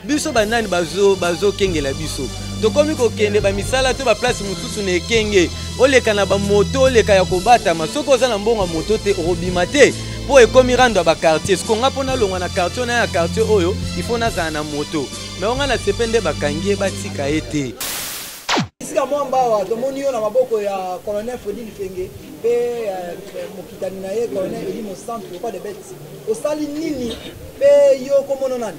biso banani bazokengela bazo biso tokomi kokende bamisala to baplace mosusu na ekenge oleka na bamoto oleka ya kobatama soki oza na mbongo ya moto te okobima te mpo ekomi rando ya bakartier siko nga mpo nalongwa na kartier na ya kartier oyo ifo nazala na moto me onga na sepe nde bakangi ye batika ye te esika mwa mbawa tomoni yo na maboko ya colonel fredi lifenge mpe euh, mokitani na ye colonel eli mosantu lokwa de bete osali nini mpe yo komono nani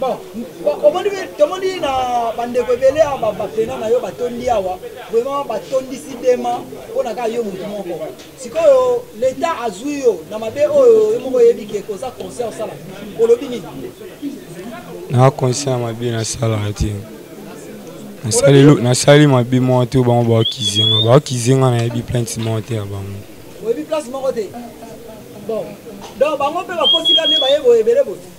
Bon, omoni tomoni na bandeko ebele awa bapena na yo batondi awa vraiment batondisi dema mpo na kaka yo motu moko sikoyo leta azwi yo na mabe oyo yo moko oyebi ke koza concert osala olobi nini na concert mabe nasalaka te nasali mabe moko te bango baokizenga baokizenga nayebi plainte moko te ya bango oyebi place moko te bon donc bango mpe bakosika nde baye boye ebele boye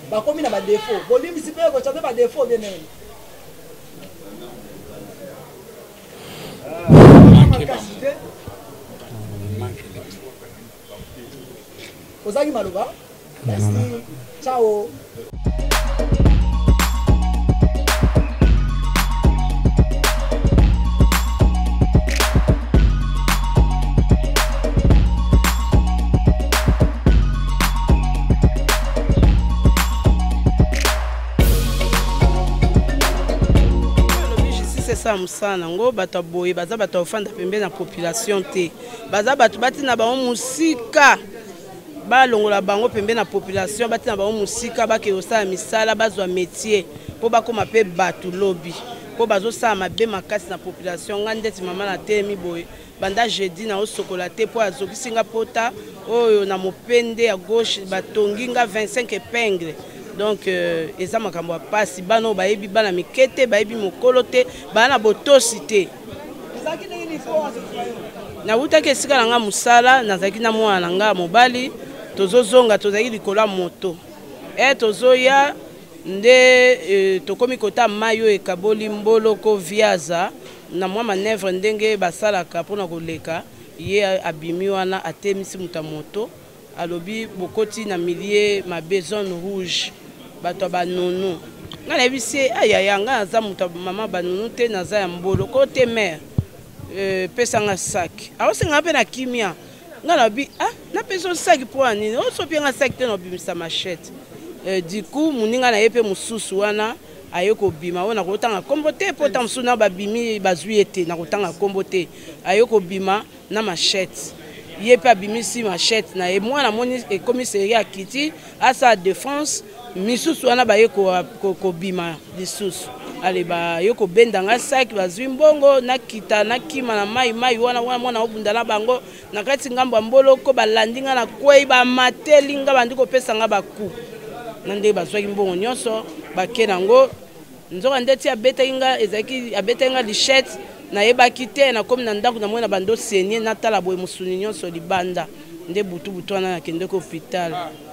bakomi na badefo bolimbisi mpe ekoca mpe badefo bien nene makasi te ozangi maloba merci ciao asala mosala nango bato ya boye baza bato ya kofanda pembeni na population te baza bato batina bango mosika balongola bango pembeni na population batina bango mosika bakende kosala misala bazwa métier mpo bakóma mpe bato lobi mpo bazosala mabe makasi na population ngai ndeti mama na temi boye Banda jeudi na osokola te po azokisi nga pota oyo na mopende ya gauche batongi nga 25 epingle donc euh, eza makambo ya pasi bana oyo bayebi bana mike te bayebi mokolo te baa na botosi te nawutaki esika na nga mosala nazalaki na mwana na nga mobali tozozonga tozalaki likolo ya moto e tozoya nde e, tokomi kota mai oyo ekaboli mboloko viaza na mwa manevre ndenge basalaka mpo na koleka, ye abimi wana atemisi moto ya moto, alobi bokoti na milie mabe, zone rouge, bato ya banunu. Ngai nayebisi ye, ah yaya, ngai naza moto ya mama banunu te, naza ya mbolo ko te mère, euh, pesa nga sac. Aosenga nga mpe na kimia. Ngai nalobi, ah, napesa yo sac mpo ya nini? Osopie nga sac te na obimisa machette. Euh, du coup, moninga na ye mpe mosusu wana. aye kobima oyo nakotanga nkombo te mpo ntango mosusu na babimi bazwi ye te nakotanga nkombo te aye kobima na machete ye mpe abimisi machete na ye mwana amoni ekomi seri akiti asala defense misusu wana baye kobima lisusu ale baye kobenda ngai saki bazwi mbongo nakita nakima na mai mai wana wana mwana obunda na bango na kati ngambo ya mboloko balandi ngai na kwei bamateli ngai bandi kopesa ngai baku na ndenge bazwaki mbongo nyonso bake na yango nzoka ndeti abetaki ngai ezalaki abetaki ngai lichette nayebaki te nakomi na ndako namoni na bando senie natala boye mosuni nyonso libanda nde butu butu wana nakendeki hopital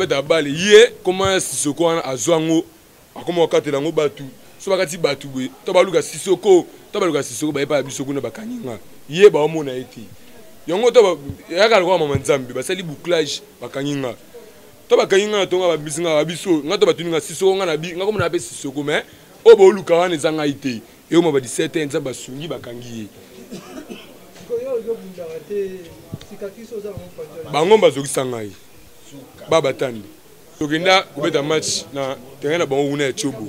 abeta bale ye koma sisoko wana azwa yango akoma kokatela yango bato so bakati bato boye to baluka sisoko to baluka sisoko baye paya biso kuna bakangi nga ye baomona ye te yango to yaka lokola mama nzambe basali bouclage bakangi nga to bakangi nga na tonga babisi nga babiso nga to batuni nga sisoko nga na bi nga komona pe sisoko mais oyo booluka wana eza ngai te eyoma ba 17 ans nzambe asungi bakangi ye bango bazokisa ngai babatandi tokenda kobeta match na terrain na bango kuna ya cobo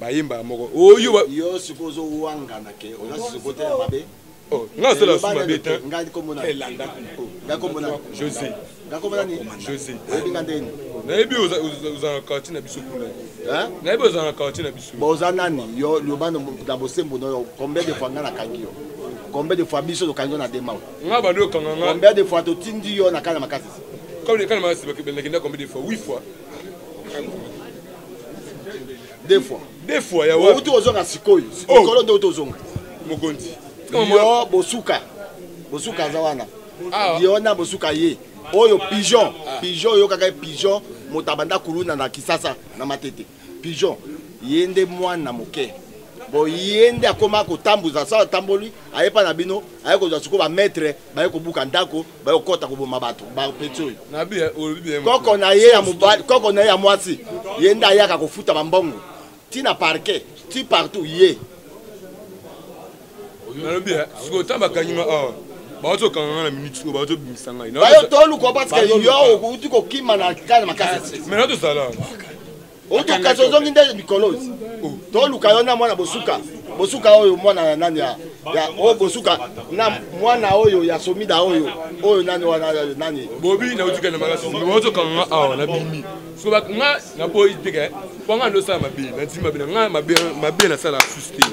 bayembaka moko oyo oh, yo sikoyo ozowangana ke oza sikote ya mabe oh, nga asala eh, su mabe te elanda eh, josé josé nayebi ozalaka quartier na biso kuna nayebi ozalaka quartier na biso boza nani yo loba na bosembo noyo combien de fois nga nakangi yo combien de fois biso tokangi yo na demao nga bando okanga nga combien de fois totindi yo na kala makasi kala makasi bakendaki combien de fois 8 fois deux fois deux fois ya wapi ozonga sikoyo oh. likolo nde ozonga mokonzi yo bosuka bosuka aza wana ah. yo na bosuka ye oyo pigeon ah. pigeon oyokaka ye pigeon moto abanda kuluna na kisasa na matete pigeon ye nde mwana moke bo ye nde akoma kotambuza sa atamboli ayepa na bino aye kozwa sikoyo bamaitre baye kobuka ndako baye kokɔta koboma bato bapeti oyo koko na ye ya mobali koko na ye ya mwasi ye nde ayaka kofuta bambongo ti na parquet ti partout ye nalobi sikoyo ntango bakangima awa baoki kokanga ngai na minute oyo baoki tobimisa ngai bayo toluka parce que yo outi kokima na kale makasi mai na tozala otokaso ozongi nde mikolozi oh. toluka yo na mwana bosuka bosuka oyo mwana ya nani ya oyo bosuka na mwana oyo ya somida oyo oyo nani wana nani bobi nautika na makasi ozokanga nga awa na bimi soba nga naboyi teke eh. po nga ndosala mabe nandimi mabe na nga mabe nasalaka susu te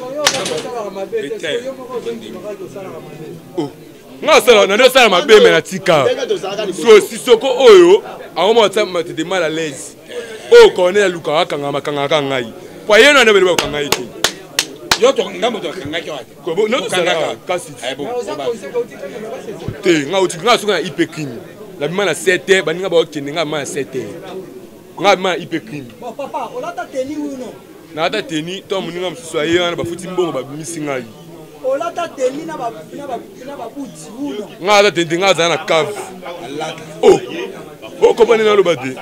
nga asala nani asala mabe me na tika so sisoko oyo aoma ata matete mal à l'aise oyo cornel alukaka akangaka makangaka ngai po ye nani abeleba kokanga ye te kasi te nga otika nga soki na ipe crime na bima na 7 baninga bakokende nga bima na 7 nga ma ipe crime bon papa olata teni ou non nalata teni to moninga mosusu aye wana bafuti mbongo babimisi ngai olata teni na babuti ou non nga alata teni te nga azala na cave o oh! okomani oh, naloba te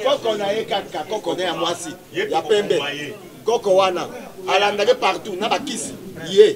koko na ye kaka koko na ya mwasi ya pembe koko wana alandaki partout na bakisi ye yeah.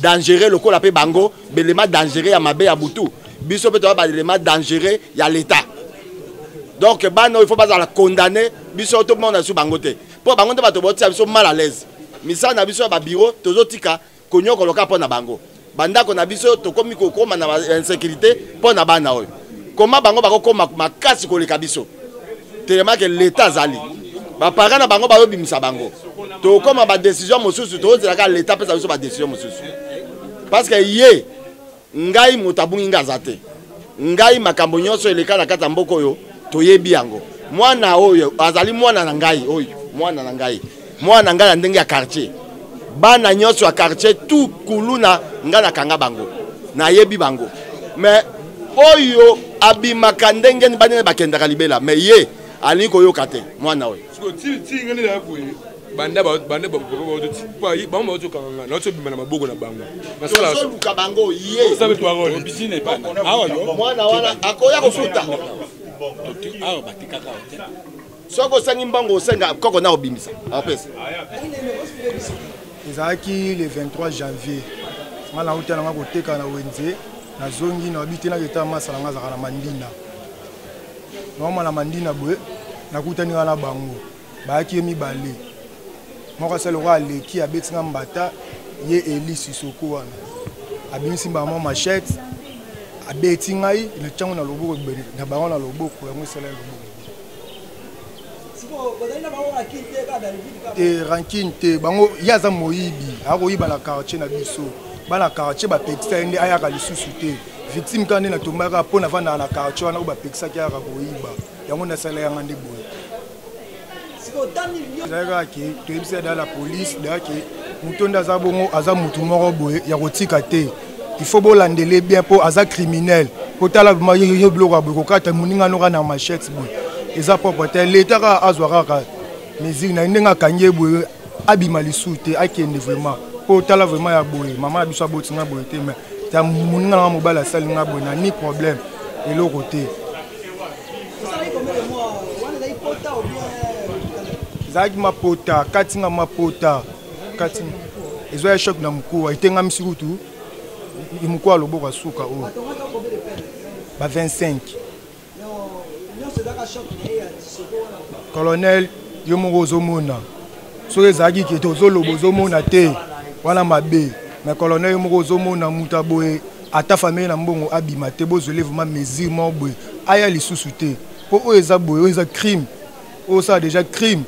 dangereux lokola pe bango belema dangereux ya mabe ya butu biso pe toza balema dangereux ya l'etat donc bana oyo faut bazala condamné biso tomona biso bango te mpo bango nde bato baotia biso mal à l'aise misala na biso ya babiro tozotika konyokoloka mpo na bango bandako na biso tokomi kokoma na bainsécurité mpo na bana oyo koma bango bakokoma makasi koleka biso telema ke leta azali bapara na bango bayobimisa bango tokoma badesizio mosusu tozelaka leta apesa biso badesizio mosusu parce que ye ngai moto abungi ngai aza te ngai makambo nyonso eleka na kati ya mboka oyo toyebi yango mwana oyo azali mwana na ngai oyo mwana na ngai mwana na ngai ya ndenge ya quartier bana nyonso ya quartier tout kuluna ngai nakanga bango nayebi bango mais oyo abimaka ndenge ni banene bakendaka libela mais ye alingi koyoka te mwana oyo banda banda bango bazokanga nazobima na maboko na bango nasoluka bango ye mwana wana akoya kofuta awa batikaka soki osangi mbango osenga koko na obimisa apesa ezalaki le 23 janvier nga nauta nanga koteka na wenze nazongi na babi te naketa masala nga azalaka na mandina naoma na mandina boye nakutani nga na bango bayaki ye mibale moko asali lokola aleki abeti nga mbata ye eli sisoko wana abimisi mbala mwa machete abeti ngai na ntango na loboko na bango na loboko yango esala ya loboko te rankine te bango ye aza moyibi akoyiba na quartier na biso bana quartier bapekisa ye nde ayaka lisusu te victime kaka nde natombaka mpo navandaka na quartier wana oyo bapekisaki ayaka koyiba yango nasala yanga nde boye ezalaka ke toyebisa da la polise da ke moto nde aza bongo aza motu moko boye ya kotika te il faut bolandele bien mpo aza criminel mpo tala yo biloko ya boye kokata moninga noka na machette boye eza propre te leta kaka azwa kaka mesure na ye ndenge akangi ye boye abima lisusu te akende vraiment mpo tala vraiment ya boye mama na biso aboti nga boye te mais ta moninga nanga mobali asali nga boye na ni problème eloko te ezalaki mapota kati nga mapota kati ezwa ya choc na mokuwa etengamisi kutu mokuwa loboko ya suka oyo ba 25 colonel yo moko ozomona soki ezalaki kete ozoloba ozomona te wana mabe mais colonel yo moko ozomona moto aboye ata famille na mbongo abima te bozwele vraiment mesure moko boye aya lisusu te mpo oyo eza boye oyo eza crime oyo osala déjà crime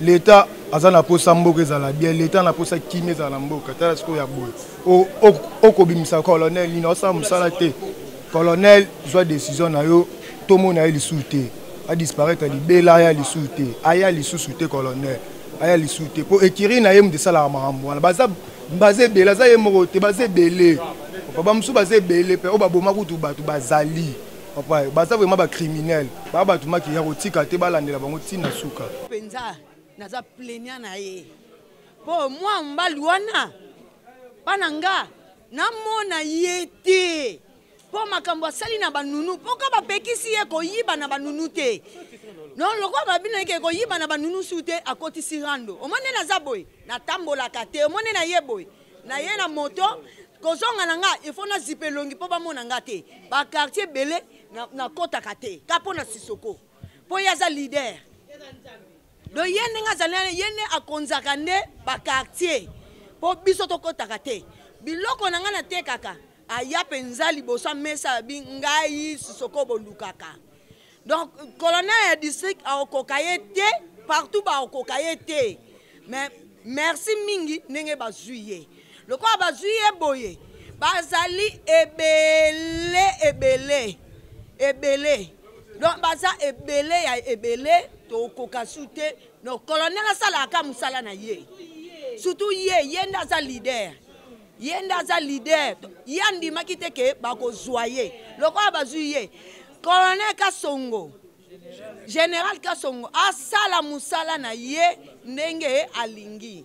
leta aza na posa mboka ezala bien leta na posa kimi ezala na mboka tala sikoyo ya boye okobimisa colonel nini osala mosala te colonel zwa décision na yo tomona ye lisusu te adisparaitre libela aya lisusu te aya lisusu te colonel aya lisusu te mpo ekiri na ye moto esalaka makambo wana baza baza ebele aza ye moko te baza ebele bamosusu baza ebele mpe oyo baboma kutu bato bazali papa baza vraiment bacriminel baa bato maki ya kotika te balandela bango ntina suka mpenza naza plenia na ye mpo mwa mobali wana mpa na nga namona ye te mpo makambo asali na banunu mpo ka bapekisi ye koyiba na banunu te non lokola babino yeke koyiba na banunu su te akotisi rando omoni naza boye natambolaka te omoni na ye boye na ye na moto kozonga na nga ifo nazipa elongi mpo bamona nga te bakartier ebele nakotaka te ka mpo na sisoko mpo ye aza lider do ye ndenge azali ye nde akonzaka nde bakartier mpo biso tokotaka te biloko na ngai natekaka aya mpenza liboso ya mesa abi ngai sisoko bolukaka donc colonel ya district akokoka ye te partout bakokoka ye te mais merci mingi ndenge bazwi ye lokola bazwi ye boye bazali ebele ebele ebele donc baza ebele ya ebele tokoka su te donc colonel asalaka mosala na ye surtout ye ye nde aza leader ye nde aza leader ye andimaki te ke bakozwa ye lokola bazwi ye colonel kasongo général kasongo asala mosala na ye ndenge alingi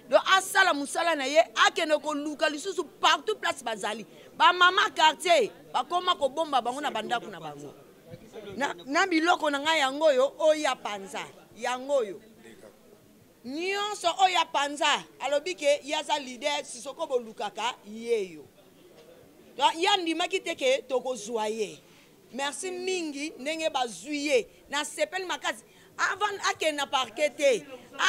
donc asala mosala na ye akende koluka lisusu partout place bazali bamama quartier bakoma kobomba bango na bandako na bango na, na biloko na ngai yango oyo oya panza yango oyo Nionso oyo ya panza alobi ke ye aza leader sisoko bolukaka yeyo ye andimaki te ke tokozwa ye merci mingi ndenge bazwi ye nasepeli makasi avant akende na parke te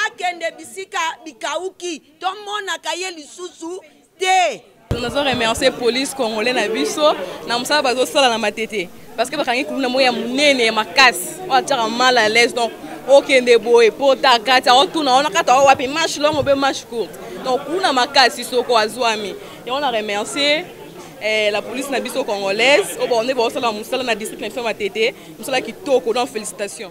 akende bisika bikauki tomonaka ye lisusu te nazo remercier police congolais na biso na mosala bazosala na matete parce que bakangi kuluna moko ya monene ya makasi oyo atyaka mal à l'aise donc okende boye mpo ta kati aotuna wana kati ao wapi marche longo mpe marche courte donc kuna makasi soko azwami yango na remercier eh, la police na biso congolaise oyo baonde baosala mosala na district na biso matete mosala kitoko donc félicitation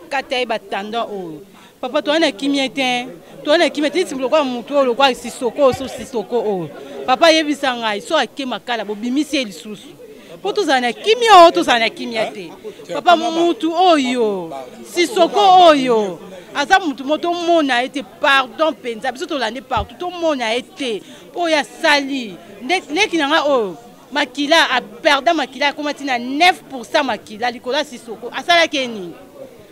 kati ya ye batanda oyo papa toa na kimia te toa na kimia te neti lokola motu oyo lokola sisoko oyo so sisoko oyo papa ayebisa ngai so ake makala bobimisi ye lisusu mpo tozala na kimia oyo tozala na kimia te papa motu oyo sisoko oyo aza motu mo tomona ye te pardon mpenza biso tolandi partout tomona ye te oyo asali ndeki na ngai oyo makila aperda makila akoma ntina 9 makila likolo ya sisoko asalaki ye nini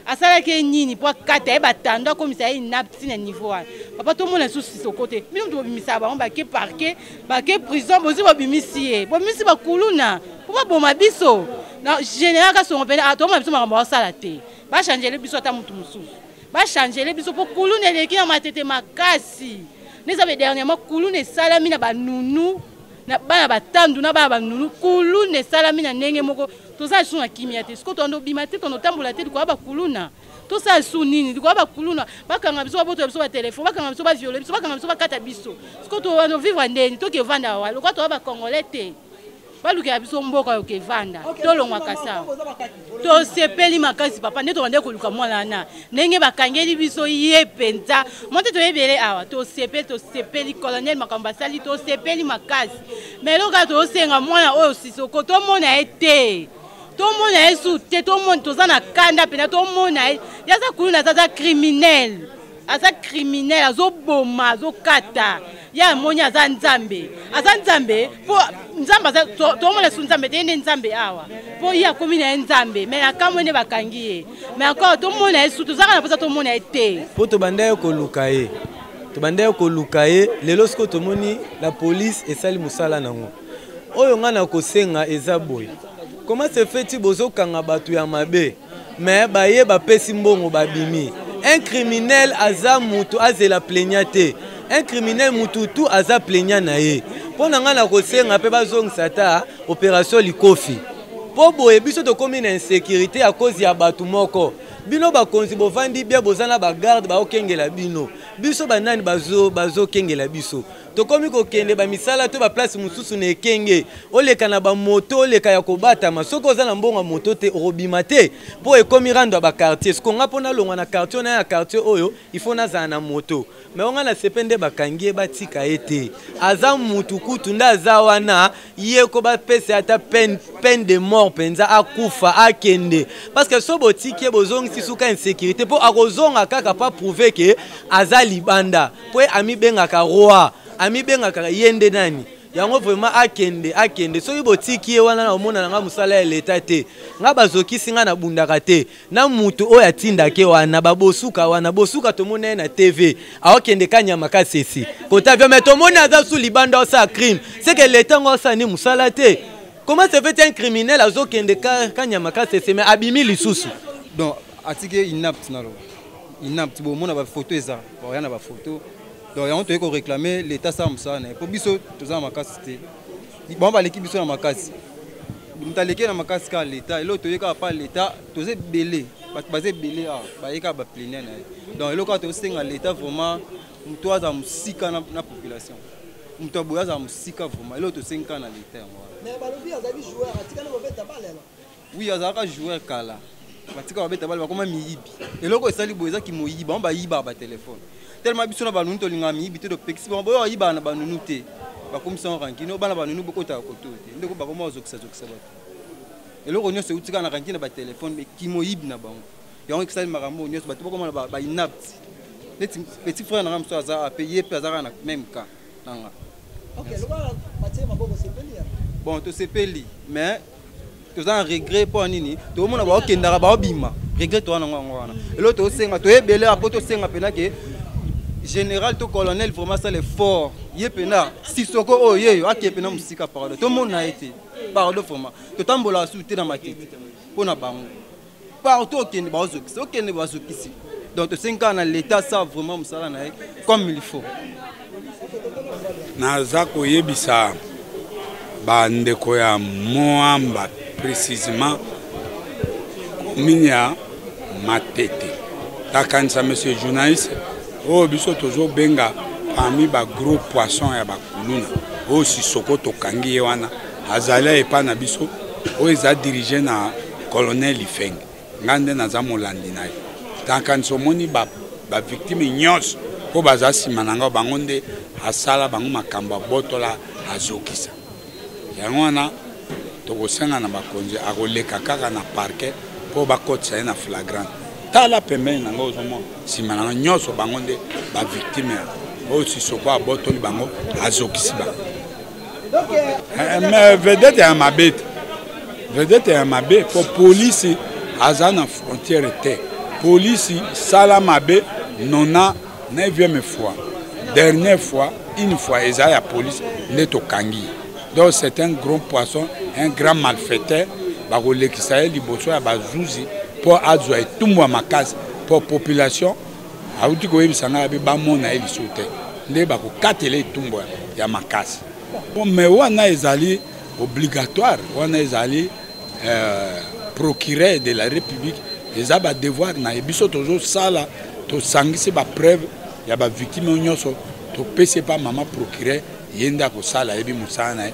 asalaki ye nini mpo akata ye batando akomisa ye inapti na niveau wana papa tomona lisusu sisoko te bino moto bobimisaka bango bake parke bake prison bozi bobimisi ye bobimisi bakuluna mpo baboma biso na général kasongo mpene atoma ah, biso makambo basala te bachangele biso ata motu mosusu bachangele biso mpo kuluna eleki na matete makasi neza be dernièrement kuluna esalami na banunu na bana batandu na bana banunu kuluna esalami na ndenge moko toza lisusu na kimia te sikoyo toando bima te toando tambola te likoya bakuluna tosala lisusu nini likoya bakuluna bakanga biso babotela biso batelefone bakanga biso baviole biso bakanga biso bakata biso sikoyo toando vivre ndeni toke evanda wa lokola toya bacongolais te balukela biso mboka yoke evanda tolongwaka sa tosepeli makasi papa nde tobandaki koluka mwana wana ndenge bakangeli biso ye mpenza mwa te toyebele awa tosepeli tosepeli colonel makambo basali tosepeli makasi ma eloko kaka tozosenga mwana oyo sisoko tomona ye te tomona ye su te tomona toza na kanda mpenza tomona ye yaza kuluna azaza criminele aza criminel azoboma azokata ye amoni aza nzambe aza nzambe mpo nzambe aza tomona su nzambe te ye nde nzambe awa mpo ye akomi na ye nzambe mai akamwe nde bakangi ye mai encore tomona ye su tozaka na mposa tomona ye te mpo tobanda ye koluka ye tobanda ye koluka ye lelo sikoyo tomoni la polise esali mosala nango oyo ngai nakosenga eza boye koma se feti bozokanga bato ya mabe mais baye bapesi mbongo babimi un criminel aza mutu azela plaignant te un criminel mutu tu aza plaignant na ye mpo na ngai nakosenga mpe bazongisa ata opération likofi mpo boye biso tokómi na insécurité ya kozi ya bato moko bino bakonzi bovandi bia boza na bagarde baokengela bino biso banani bazokengela bazo biso tokomi kokende bamisala to baplace mosusu na ekenge oleka na bamoto oleka ya kobatama soki oza na mbongo ya moto te okobima te mpo ekomi rando ya bakartier siko nga mpo nalongwa na kartier na ya kartier oyo ifo nazala na moto me onga na sepe nde bakangi ye batika ye te aza mutu kutu nde aza wana ye ko bapesa ata peine, peine de mort mpenza akufa akende parce que so botiki ye bozongisi suka insécurité mpo akozonga kaka mpo aprouve ke aza libanda mpo ye amibengaka roi amibengaka ye nde nani yango vraiment akende akende soki botiki ye wana na omona na ngai mosala ya leta te ngai bazokisi ngai nabundaka te na mutu oyo atindake wana babosuka wana bosuka tomoni ye na tv aokende kanyama kasese kota vio mai tomoni aza su libanda osala crime seke leta yango asala ni mosala te comment se fait un criminel azokende kanyama kasese mai abimi lisusu donc atiki ye inapt naloba inapt bomona bafoto eza oya na bafoto donc yango toyei koreklame leta asala mosala na ye mpo biso toza na makasi te bango baleki biso na makasi moto aleki na makasi kaka leta eloko toye kaka pa leta toza ebele bato baza ebele awa baye kaka baplenia na ye donc eloko kaka tosenga leta vraiment moto azala mosika na population moto aboye azala mosika vraiment eloko tosengi kaka na leta yango wana Oui, azalaka joueur kala. Batika babeta bale bakoma miyibi. Eloko esali boye eza kimoyibi, bango bayiba ba telefone. Tellement biso na banunu tolingaka miyibi te topekisi bango boyo bayiba na banunu te. Bakomisa yango rankine, bana banunu bokota koto te. Ndeko bakoma ozokisa zokisa bato. Eloko nyonso eutika na rankine ba telefone, mais kimoyibi na bango. Yango ekisali makambo nyonso bato bakoma na ba, ba inapti. Neti petit frère na nga mosusu aza ape ye mpe azalaka na même cas na nga. Okay, lokola batie maboko sepeli ya. Bon, tosepeli mais toza na regret mpo ya nini tokomona baokendaka baobima regret toza nango yango wana elo tosenga toyebele apo tosenga mpena ke général to colonel vraiment asala effort ye mpena sisoko oyo oh, yeyo akee mpena mosika pardon tomona ye te pardon vraiment totambolaka susu te na matete mpo na bango partout okende bazokisi okende bazokisi donc tosengi kaka na leta asala vraiment mosala na ye comme il faut naza koyebisa bandeko ya moamba précisement commune ya matete takanisa monsieur journaliste oyo oh, biso tozobenga parmi bagros poisson ya bakuluna oyo oh, sisoko tokangi ye wana azali epai na biso oyo oh, eza dirige na Colonel Ifeng, ngai nde naza molandi na yo. Nakanisi omoni bavictime ba nyonso oyo baza nsima na ngai, bango nde asala bango makambo abotola azokisa. Yango wana tokosenga na bakonzi akoleka kaka na parke mpo bakotisa ye na flagrante. Tala pembeni na ngai ozomona nsima na ngai nyonso bango nde bavictime oyo sisoko abotoli bango azokisi bango. eh, mais vedete ya mabe te vedete ya mabe mpo polisi aza na frontiere te polisi sala mabe nona 9e fois dernière fois une fois eza ya polisi nde tokangi donc c'est un grand poisson un grand malfaiteur bakolekisa ye liboso ya bazuzi mpo azwa etumbu ya makasi mpo population auti koyebisa ngai abe bamona ye lisusu te nde bakokatela etumbu ya makasi me wana ezali obligatoire wana ezali euh, procureur de la république eza badevoir na ye biso tozosala tosangisi bapreuve ya bavictime nyonso topesi epa mama procureur ye nde akosala ayebi mosala na ye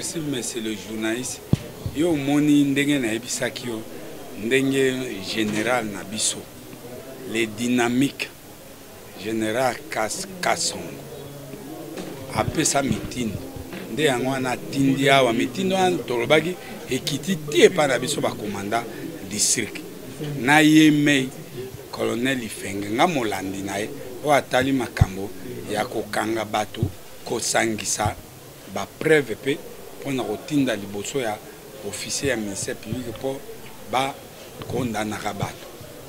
merci monsieur le journaliste yo omoni ndenge nayebisaki yo ndenge général na biso les dynamiques General Kas Kasongo apesa mitindo nde yango wana atindi awa mitindo wana tolobaki ekiti ti epai na biso bakomanda district na ye mei colonel ifenge nga molandi na ye oyo atali makambo ya kokanga bato kosangisa bapreuve mpe mpo na kotinda liboso ya officier ya ministère public mpo bakondanaka bato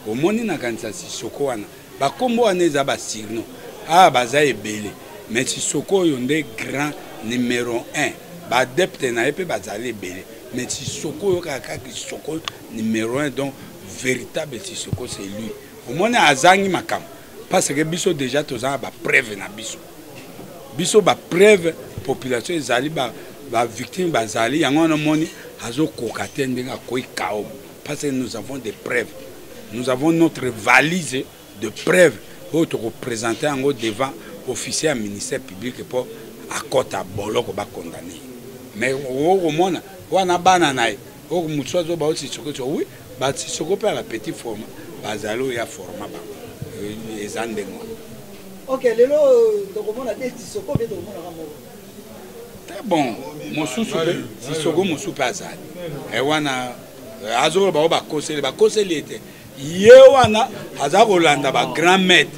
omoni nakanisa sisoko wana bakombo wana eza basirno awa ah, baza ebele mais sisoko oyo nde grand numero 1 baadepte na ye mpe bazali ebele mais sisoko oyo kaka kisoko numero 1 donc véritable sisoko c'est lui omoni azangi makambo parce que biso déjà toza na bapreuve na biso biso bapreuve population ezali bavictime ba bazali yango wana omoni azokoka te ndenge akwei kaobo Parce que nous avons des preuves. Nous avons notre valise de preuves oyo tokopresente yango devant officier ya ministère public mpo akɔta boloko bakondane mais okomona wana bana na ye oyo mosusu azoba oyo sisoko so wi basisoko mpe ya bapetit forma bazali oyo ya forma bango eza ndenge wana ok lelo tokomona te sisoko mpe tokomonaka moko très bon mosusu mpe sisoko mosusu mpe azali e wana eh, azoloba bango bakoseli bakoseli ye te ye wana aza kolanda bagrand maître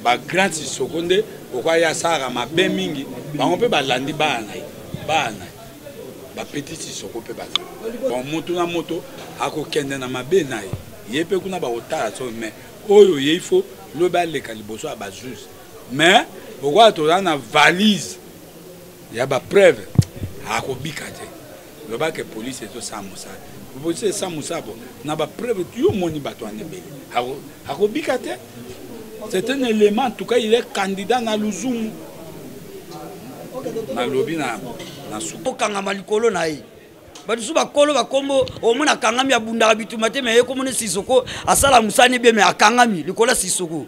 bagrand sisoko nde okwai asalaka mabe mingi bango mpe balandi bana na ye bana na ye bapeti sisoko mpe baza bon moto na moto akokende na mabe na ye ye mpe kuna bakotala so mai oyo ye ifo lobi aleka liboso ya bazuzi mais lokola toza na valise ya bapreuve akobika te loba ke polise ezosala mosala polise esa mosala bo na bapreuve yo omoni bato wana ebele akobika te c'est un élément en tout cas il est candidat na luzumu nalobi na okangama likolo na ye bato mosusu bakolo bakombo omona akangami abundaka bituma te me ye komona sisoko asala mosani bie me akangami likolo ya sisoko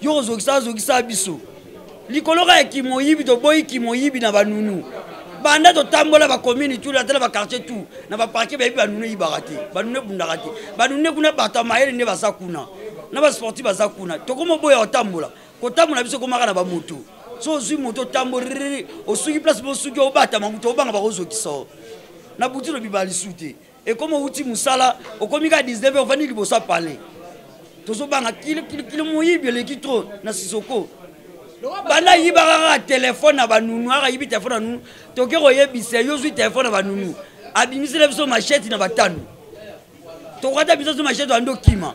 yo kozokisa azokisa biso likolo kaka ya kimoyibi toboyi kimoyibi na banunu banda totambola bakomini tu atala bakartier tu na baparke bayebi banunu eyibaka te banunu ebundaka te banunu kuna bato ya mayele nde baza kuna na basportif baza kuna tokoma oboya kotambola kotambola biso ekomaka na bamoto so ozwi moto otamboliriri osuki place mosuki obatama moto obanga bakozokisa na butu lobi balisu te ekomi owuti mosala okomi kaka 19 heure ovandi liboso ya palais tozobanga kilikili moyibi eleki tro na sisoko banda ayibaka kaka telefone na banunu aka ayibi telefone na nunu toke koyebisa yo ozwi telefone na banunu abimisela biso masheti na batano tokata biso so masheti bando kima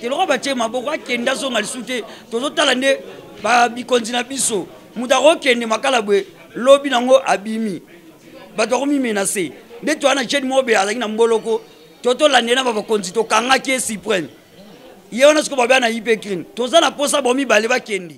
te lokola batie maboko akende azonga lisusu te tozotala nde bikonzi na biso moto akokende makala boye lobi nango abimi bato akomimenase nde toya na jene mobe azalaki na mboloko to tolande na babakonzi tokangaki ye supreme ye wana sikoyo babea na ipecrine toza na mposa bomibale bakendi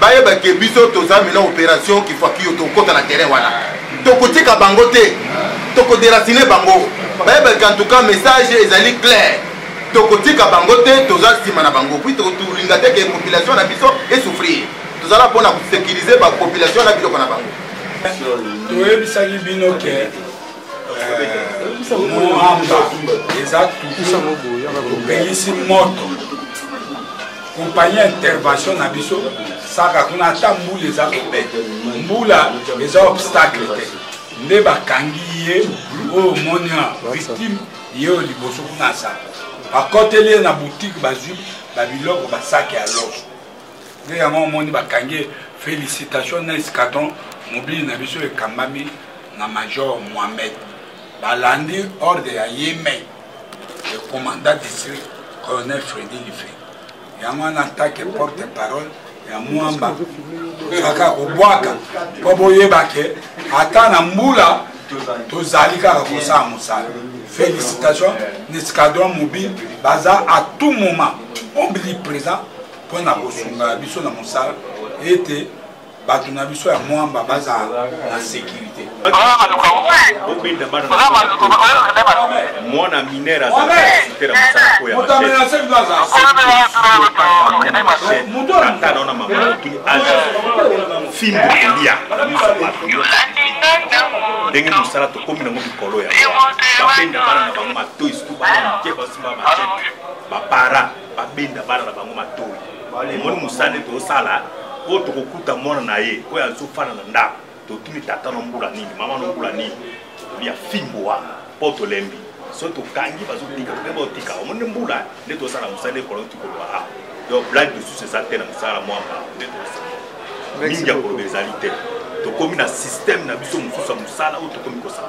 bayeba ke biso toza mena operation kifuakiyo tokota na terrain wana tokotika bango te tokoderacine bango bayeba ke entouka message ezali claire tokotika bango te toza nsima na bango puis tolinga te ke population na biso esouffrir tozala mpo na kosekirize bapopulation na biloko na bango toyebisaki bino ke euh, moamba eza topelisi moto kompani ya intervention na biso saka kuna ata mbula eza kobeta mbula eza obstacle te nde bakangi ye oyo omoni ya victime ye oyo liboso kuna asaka bakoteli ye na boutique bazwi babiloko basaki ya loso nde yango omoni bakangi ye félicitation na escadron mobili na biso ekambami na major mohamed balandi ordre ya ye mai le commandant district colonel fredi life yango wana atake porte parole ya mwamba tozalaka kobwaka mpo boyeba ke ata na mbula tozali kaka kosala mosala félicitation na escadron mobile baza à tout moment ombiliprésent mpo na kosunga biso na mosala ete bato na biso ya mwamba bazala na sécurité mwana minere azalaaite na mosala oyo yaatanaona mamatuni aza fimbo kolia ndenge mosala tokomi nango mikolo ya babenda bana na bango matoi situ bana mike basimba bapara babenda bana na bango matoi emoni mosala nde tozosala oyo tokokuta mwana na ye oyo azofanda na ndako totuni tata na mbula nini mama na mbula nini ya fimbo wana mpo tolembi so tokangi bazotika toke baotika omoni nde mbula nde tozosala mosala nde kolona tikoloba a donc blague lisusu eza te na mosala mwamba nde tozosala mingi ya koloba ezali te tokomi na systeme na biso mosusu ya mosala oyo tokomi kosala